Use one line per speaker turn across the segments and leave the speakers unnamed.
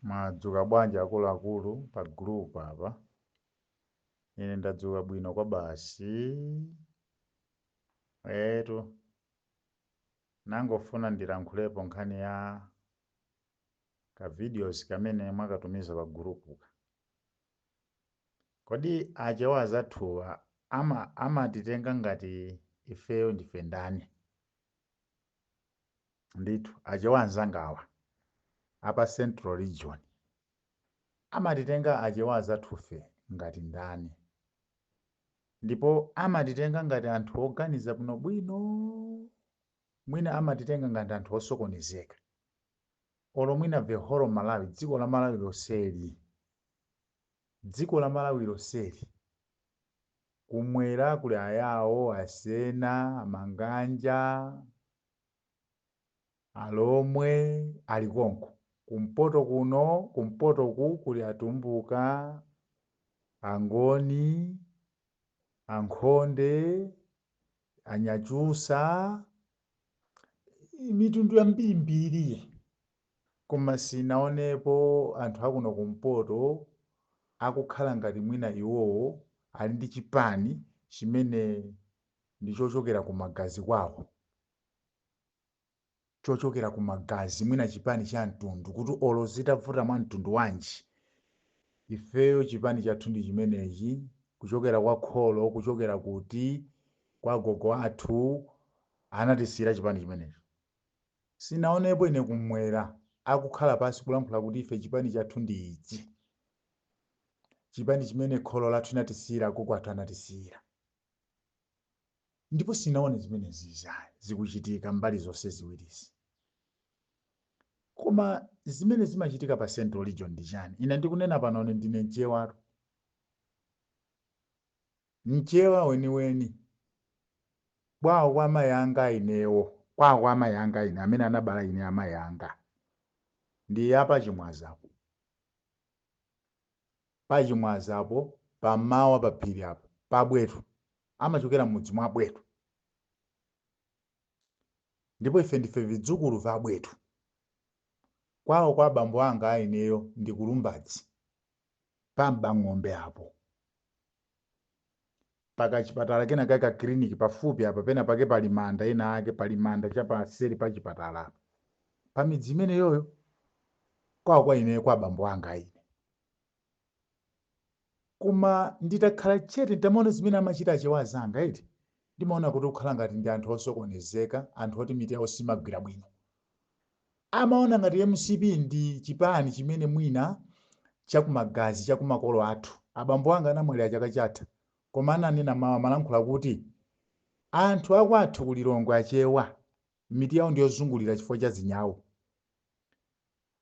Mwadzuka bwanji akuluakulu pa group apa? Ine ndadzuka bwino kwabasi. Eetu, nangofuna ndilankhulepo nkhani ya ka videos kamene mwakatumiza pa gurupuka. Kodi achewa azathuwa amatitenga ngati ifeyo ndife ndani? ndithu achewa anzangawa apa central region amatitenga achewa azathufe ngati ndani ndipo amatitenga ngati anthu oganiza bwino bwino mwina amatitenga ngati anthu osokonezeka olo mwina the whole malawi dziko la malawi lonseli Dziko la Malawi lonseli, kumwera kuli Ayawo, Asena, Amang'anja, Alomwe ali konko. Kumpoto kuno, kumpoto uku kuli Atumbuka, Angoni, Ankhonde, Anyakyusa, mitundu yambirimbiri. Koma sinaonepo anthu akuno kumpoto akukhala ngati mwina iwowo ali ndi chipani chimene ndi chochokera ku magazi kwawo, chochokera ku magazi, mwina chipani cha mtundu kuti olo zitavuta mwa mtundu wanji ifeyo chipani chathu ndi chimenechi, kuchokera kwa kholo, kuchokera kuti, kwa agogo athu anatisiyira chipani chimenecho. Sinaonepo ine kumwera akukhala pansi kulankhula kuti ife chipani chathu ndi ichi. Chipani chimene kholo lathu inatisiyira agogo athu anatisiyira. Ndipo sinaone zimenezizi ayi zikuchitika mbali zonse ziwirizi. Koma zimene zimachitika pa central region ndi chani? Ine ndikunena pano ndine mchewatu. Mchewa weniweni. Kwawo kwa amayi anga ainewo. Kwawo kwa amayi anga aine, amene anabala ine amayi anga, ndi a pa Chimwaza apo. Pa Chimwaza apo, pa mmawa pa phiri apo, pa Bwetu. Amachokera m'mudzi mwa Bwetu. Ndipo ife ndife vidzukulu va Bwetu. Kwawo kwa abambo anga aineyo ndi ku Lumbadzi. pa Mbang'ombe apo, pa kachipatala kena kake, ka kiliniki pafupi apa, penapake pali manda ena ake, pali manda cha paseri pa chipatala apa, pa midzi imeneyoyo, kwawo kwa ineyo, kwa abambo anga a ine. Koma nditakhala chete, nditamaona zimene amachita Achewa anzanga, eti, ndimaona kuti kukhala ngati ndi anthu osokonezeka, anthu oti mitu yawo simagwira bwino. Amaona ngati mcp ndi chipani chimene mwina chakumagazi chakumakolo athu. Abambo anga anamwalira chaka chatha koma ananena mau amalankhula kuti anthu akwathu ku Lilongwe achewa mitu yao ndiyozungulira chifukwa cha zinyau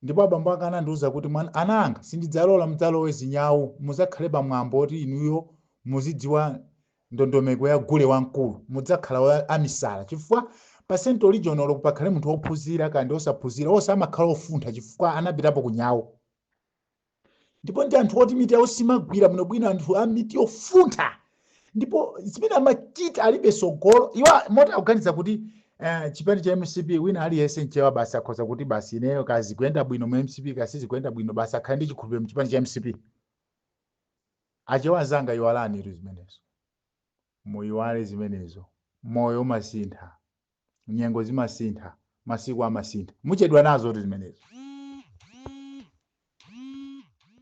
ndipo abambo anga anandiuza kuti ana anga sindidzalola mudzalowe zinyau muzakhale pa mwambo oti inuyo muzidziwa ndondomeko ya gule wamkulu mudzakhala amisala chifukwa pa central region olo pakhale munthu wophunzira kaya ndi osaphunzira onse amakhala ofuntha chifukwa anapitapo kunyau ndipo ndi anthu oti mitu yawo simagwira bwinobwino anthu a mitu yofuntha ndipo zimene amachita alibe sogolo iwo moti akuganiza kuti eh, chipani cha mcp wina aliyense mchewa basi akhoza kuti basi ineyo kaya zikuyenda bwino mu mcp kaya sizikuyenda bwino basi akhale ndi chikhulupiriro mchipani cha mcp Achewa anzanga iwalanitu zimenezo. Muyiwale zimenezo. Moyo umasintha. Nyengo zimasintha. Masiku amasintha. Muchedwa nazotu zimenezo.